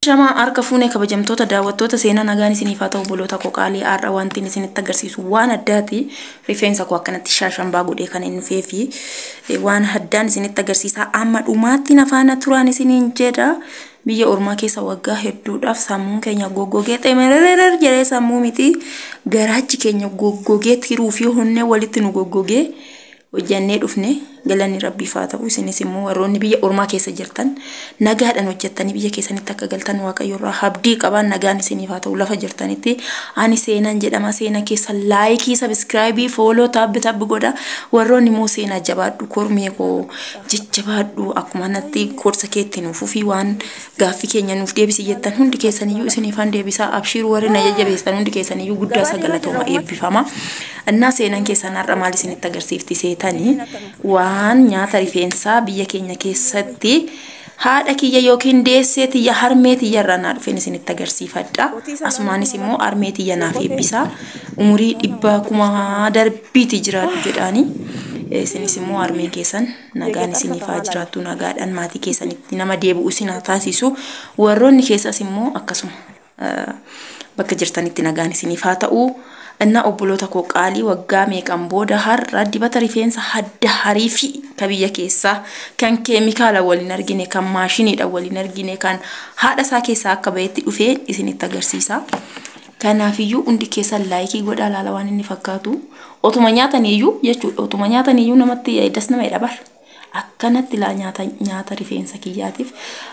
Ashamaa harka fuune kabajamtoota daawwattoota seenaa nagaan isiniif haa ta'u obboloota koo qaalii har'a wantiin isinitti agarsiisu waan addaati rifeensa koo akkanatti shaashambaa godhee kan hin dhufee fi eh, waan addaan isinitti agarsiisaa amma dhumaatti na faana turaan isiniin jedha biyya ormaa keessa waggaa hedduudhaaf sammuun keenya goggogee xemerererer jedhee sammuu miti garaachi keenya goggogee tiruu fi honnee walitti nu goggogee hojjannee dhufne galanni rabbiif haa ta'u isinis immoo warroonni biyya ormaa keessa jirtan nagaadhaan hojjattanii biyya keessanitti akka galtan waaqayyo irraa habdii qabaa nagaan isiniif haa ta'u lafa jirtanitti ani seenaan jedhama seena keessa laayikii sabiskiraayibii fooloo taabbi taabbi godha warroonni immoo seenaa jabaadhu kormee koo jajjabaadhu akkuma natti gorsa keetti nuuf ufii waan Gaaffi keenya nuuf deebisi jettan hundi keessaniyyuu isiniifan deebisaa abshiiru warri na jajjabeessan hundi keessaniyyuu guddaa isaa galatooma eebbifama. Innaa seenan keessan har'a maal isinitti agarsiifti seetanii waan nyaata rifeensaa biyya keenya keessatti haadha kiyya yookiin deessee tiyya harmee tiyya irraa naa dhufeen isinitti agarsiifadha. Asumaanis immoo harmee tiyya naaf eebbisaa umurii dhibbaa kuma darbiiti jiraadhu jedhaanii isinis immoo harmeen keessan Nagaan isiniif haa jiraattu nagaadhaan maatii keessanitti nama deebi'u isin haa taasisu warroonni keessas immoo akkasuma bakka jirtanitti nagaan isiniif haa ta'u innaa obboloota koo qaalii waggaa meeqan booda har'a dibata rifeensa hadda harii fi ka biyya keessaa kan keemikaala waliin argine kan maashiniidha waliin argine kan haadha isaa keessaa akka ba'etti dhufee isinitti agarsiisa. Kanaafiyyuu hundi keessan laayikii godhaa laala waan inni fakkaatu otuma nyaataniiyyuu jechuudha otuma nyaataniiyyuu namatti das nama jedha bar akkanatti laa nyaata nyaata rifeensa kiyyaatiif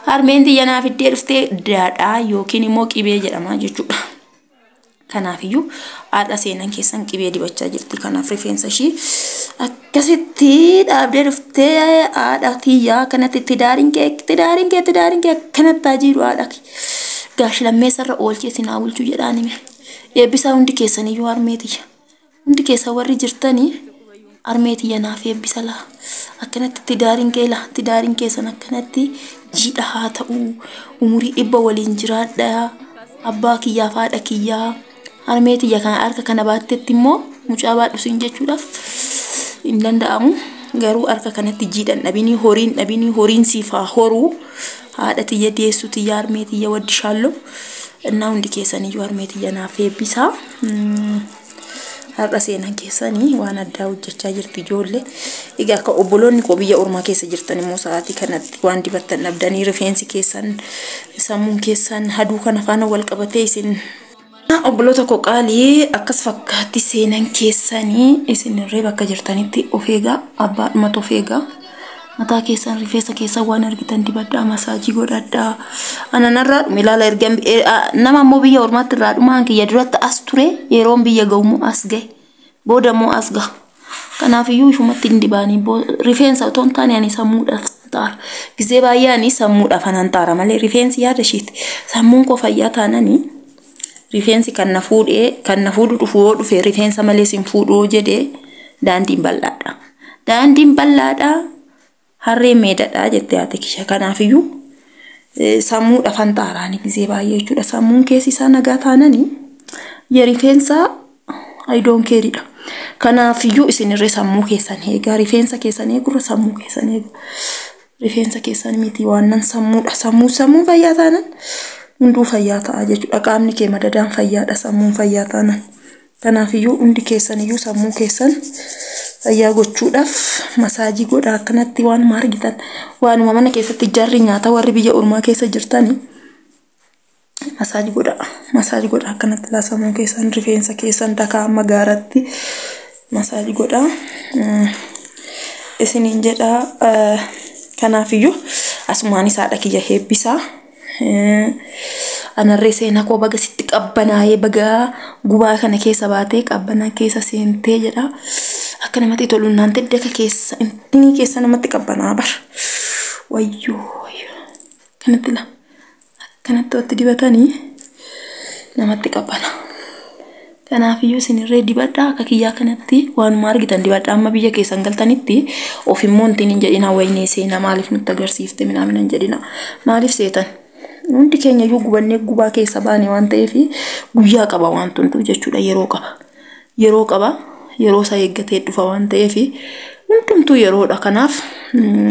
harmeen tiyya naaf iddee dhuftee daadhaa yookiin immoo qibee jedhama jechuudha. Kanaafiyyuu har'a seenan keessan qibee dibachaa jirti kanaaf rifeensa ishii akka Akkasitti dhaabdee dhuftee haadha tiyyaa akkanatti tidaariin kee tidaariin kee tidaariin kee akkanatti haa jiru haadha kee. Gaashi lammeessarra oolchee isin haa bulchu jedhaan hime. Eebbisaa hundi keessaniyyuu harmee tiyya. Hundi keessa warri jirtanii harmee tiyya naaf eebbisa laa. Akkanatti tidaariin kee laa tidaariin keessan akkanatti jiidha haa ta'u. Umurii dhibba waliin jiraadha. Abbaa kiyyaaf haadha kiyyaa. Harmee tiyya kana harka kana baattetti immoo mucaa baadhu siin jechuudhaaf hin danda'amu. Garuu harka kanatti jiidhan dhabinii horiin dhabinii horiin siif haa horuu. Haadha tiyya deessu tiyya harmee tiyya waddi shaalloo. Innaa hundi keessaniyyuu harmee tiyya naaf eebbisaa. Mm, Har'a seenan keessanii waan addaa hojjechaa jirtu ijoollee. Egaa akka obboloonni koo biyya ormaa keessa jirtan immoo sa'aatii kanatti waan dibattan dhabdanii rifeensi keessan sammuun keessan haduu kana faana wal qabatee isin Obboloota koo qaalii akkas fakkaatti seenan keessanii isinirree bakka jirtanitti of eegaa abbaadhumatu of eegaa. Mataa keessan rifeensa keessan waan argitan dibadhaa masaajii godhadhaa. Ana narraa dhume ilaala erga nama immoo biyya ormaatti irraa dhumaan kiyya duratti as ture yeroon biyya ga'ummoo as ga'e. Booda immoo as gaha. Kanaaf iyyuu ifumatti hin dibaanii. Rifeensa otoo hin taane ani sammuudhaaf hanxaara. Gizee baay'ee ani sammuudhaaf an hanxaara malee rifeensi yaada ishiiti. Sammuun koo fayyaa taananii rifeensi kan na fuudhee kan na fuudhu dhufu yoo dhufe rifeensa malees hin fuudhu yoo jedhee daandiin bal'aadha. Daandiin bal'aadha. Harreen meedadha jette haati kisha. Kanaafiyyuu sammuudha fanxaaraani gizee baay'ee jechuudha. Sammuun keessi isaa nagaa taanani ya rifeensa ayidoon keeridha. Kanaafiyyuu isinirree sammuu keessan eegaa rifeensa keessan eegurra sammuu keessan eega. Rifeensa keessan miti waannan sammuudha. Sammuu sammuun fayyaa taanan hunduu fayyaa ta'a jechuudha. Qaamni kee madadaan fayyaadha sammuun fayyaa taanan. Kanaaf iyyuu hundi keessan iyyuu sammuu keessan fayyaa gochuudhaaf masaajii godhaa akkanatti waanuma argitan waanuma mana keessatti jarri nyaata warri biyya ormaa keessa jirtani masaajii godhaa masaajii godhaa akkanatti laa sammuu keessan rifeensa keessan dakaa amma gaaratti masaajii godhaa Mm, isiniin jedhaa eh, kanaaf iyyuu asumaanis haadha kiyya heebbisaa. Anarree seenaa koo baga sitti qabbanaa'ee baga gubaa kana keessa baatee qabbanaa keessa seentee jedha. Akka namatti tolu naan tedde akka keessa inni keessa namatti qabbanaa bar. Wayyoo wayyoo. Kanatti la. Kanatti watti dibatanii namatti qabbanaa. Kanaafiyyuu isin irree dibadhaa akka kiyyaa kanatti waanuma argitan dibadhaa amma biyya keessan galtanitti of immoo intiin hin jedhinaa waynee seenaa maaliif nutti agarsiifte minaamin hin jedhinaa maaliif seetan hundi keenya iyyuu gubannee gubaa keessa baane waan ta'eef guyyaa qaba waan hunduu jechuudha yeroo qaba yeroo qaba yeroo isaa eeggatee dhufa waan ta'eef hundumtuu yeroodha kanaaf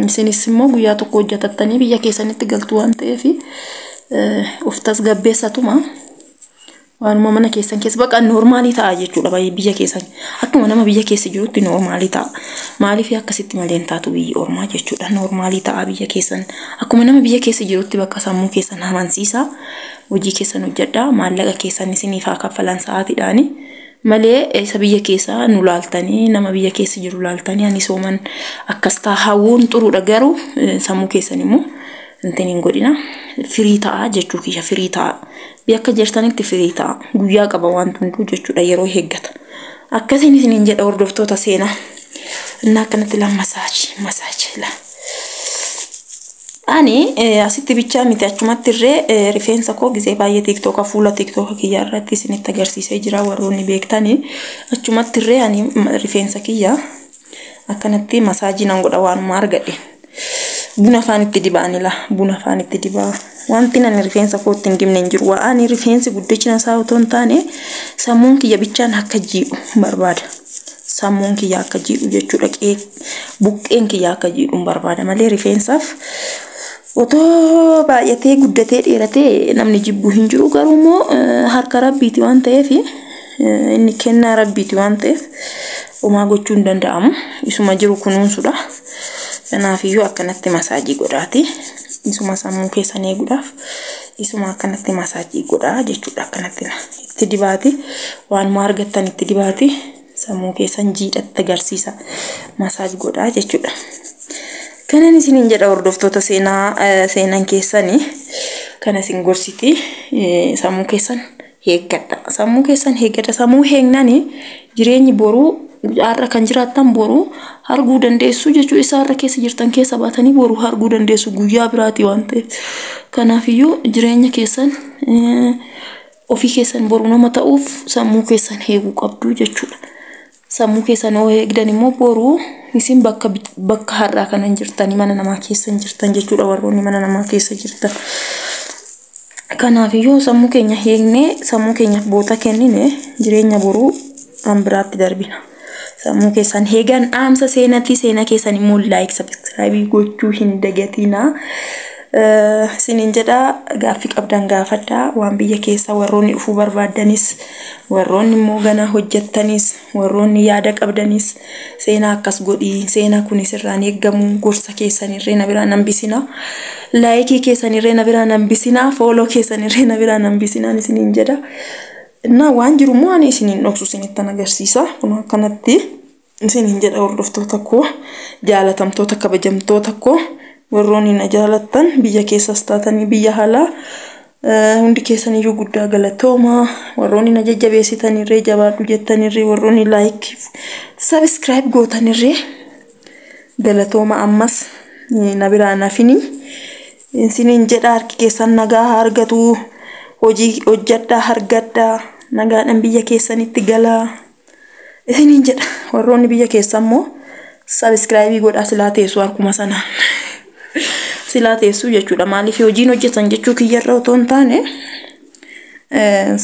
isinis immoo guyyaa tokko hojjetattanii biyya keessanitti galtu waan ta'eef of tasgabbeessatuma. Waanuma mana keessan keessa baqa noormaalii ta'a jechuudha baay'ee biyya keessan akkuma nama biyya keessa jirutti noormaalii ta'a. Maaliif akkasitti malee hin taatu biyyi ormaa jechuudha noormaalii ta'a biyya keessan akkuma nama biyya keessa jirutti bakka sammuu keessan amansiisa hojii keessan hojjedhaa maallaqa keessan isiniif haa kaffalan sa'aatiidhaani. Malee isa biyya keessa nu laaltanii nama biyya keessa jiru laaltanii ani sooman akkas ta'a hawwuun xuruudha garuu sammuu keessan immoo hin godhina firii ta'a jechuu kiyya firii ta'a Yakka jirtanitti firii ta'a. Guyyaa qaba wanti hunduu jechuudha yeroo eeggata. Akkasiin isiniin jedha hordoftoota seenaa. Innaa akkanatti laa masaaji masaaji laa. Ani eh, asitti bichaa miti achumatti irree eh, rifeensa koo gisee baay'ee tiiktooka fuula tiiktooka kiyya irratti isinitti agarsiisee jira warroonni beektani. Achumatti irree ani mm, rifeensa kiyya akkanatti masaajii nan godha waanuma argadhe. Buna faan itti dibaan ila buna faan itti dibaa. Wanti ani rifeensa kootti hin dibne hin jiru. Waa ani rifeensi guddachina isaa otoo hin taane sammuun kiyya bichaan akka jiidhu barbaada. Sammuun kiyya akka jiidhu jechuudha qee buqqeen kiyya akka jiidhu barbaada malee rifeensaaf otoo baay'atee guddatee dheeratee namni jibbu hin jiru garuu immoo harka rabbiiti waan ta'eef inni kennaa rabbiiti waan ta'eef Homaa gochuu hin danda'amu. Isuma jiru kunuunsuudha. Kanaafiyyuu akkanatti masaajii godhaati. Isuma sammuu keessan eeguudhaaf isuma akkanatti masaajii godhaa jechuudha. Akkanatti itti dibaati. Waanuma argattan itti dibaati. Sammuu keessan jiidhatti agarsiisa. Masaaj godhaa jechuudha. Kanan isiniin jedha hordoftoota seenaa seenan keessanii kana isin gorsiti sammuu keessan heeggadha. Sammuu keessan heeggadha. Sammuu heegnani jireenyi boruu har'a kan jiraattan boruu arguu dandeessu jechuu isa har'a keessa jirtan keessa baatanii boruu arguu dandeessu guyyaa biraati waan ta'eef. Kanaafiyyuu jireenya keessan eh, ofii keessan boru nama ta'uuf sammuu keessan heeguu qabdu jechuudha. Sammuu keessan hoo eegdan immoo boru isin bakka bakka har'aa kana hin jirtanii mana namaa keessa hin jirtan jechuudha warroonni mana namaa keessa jirtan. Kanaaf yoo sammuu keenya eegnee sammuu keenyaaf boota kennine jireenya boruu kan biraatti darbina. Sammuu keessan eegan dhaamsa seenatii seena keessan immoo like subscribe gochuu hin dagatinaa. Isiniin jedhaa gaaffii qabdan gaafadhaa waan biyya keessaa warroonni dhufuu barbaaddanis warroonni immoo ganaa hojjettanis warroonni yaada qabdanis seenaa akkas godhii seenaa kunis irraan eeggamu gorsa keessan irree na biraa nan bisinaa laayikii keessan irree na biraa nan bisinaa fooloo keessan irree na biraa nan bisinaan isiniin jedha. Innaa waan jiru immoo ani isiniin dhoksu isinittan agarsiisa kun akkanatti. Isiniin jedha hordoftoota koo jaalatamtoota kabajamtoota koo warroonni na jaalattan biyya keessas taatanii biyya alaa eh, hundi keessaniyyuu guddaa galatooma warroonni na jajjabeessitanirree jabaadhu jettanirree warroonni laayikii sabiskiraayib gootanirree galatooma ammas eh, na biraa nafini isiniin jedha harki keessan nagaa haa argatu hojii hojjadhaa hargadhaa nagaadhaan biyya keessanitti galaa. isiniin jedha warroonni biyya keessa immoo sabiskiraayibii godhaa silaa teessuu harkuma sanaan silaa teessuu jechuudha maaliif hojiin hojjetan jechuu kiyyarra otoo hin taane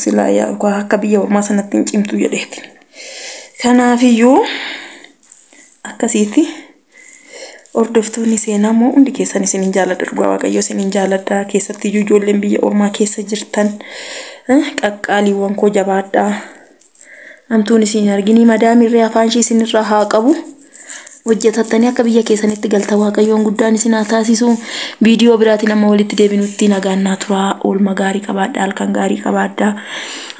silaa yaa dhugaa akka biyya ormaa sanatti hin cimtu jedheeti kanaafiyyuu akkasiiti. Hordoftoonni seenaa immoo hundi keessan isinin jaaladha dhugaa waaqayyo isinin jaaladha keessatti iyyuu ijoolleen biyya ormaa keessa jirtan eh, qaqqaaliiwwan koo jabaadhaa hamtuun isin arginii madaamirree afaan ishii isinirraa haa qabu hojjetattanii akka biyya keessanitti galta waaqayyoon guddaan isin haa taasisu viidiyoo biraatiin amma walitti deebinutti nagaan naa turaa oolma gaarii qabaadhaa halkan gaarii qabaadhaa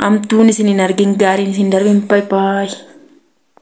hamtuun isin hin argin gaariin isin darbin bye bye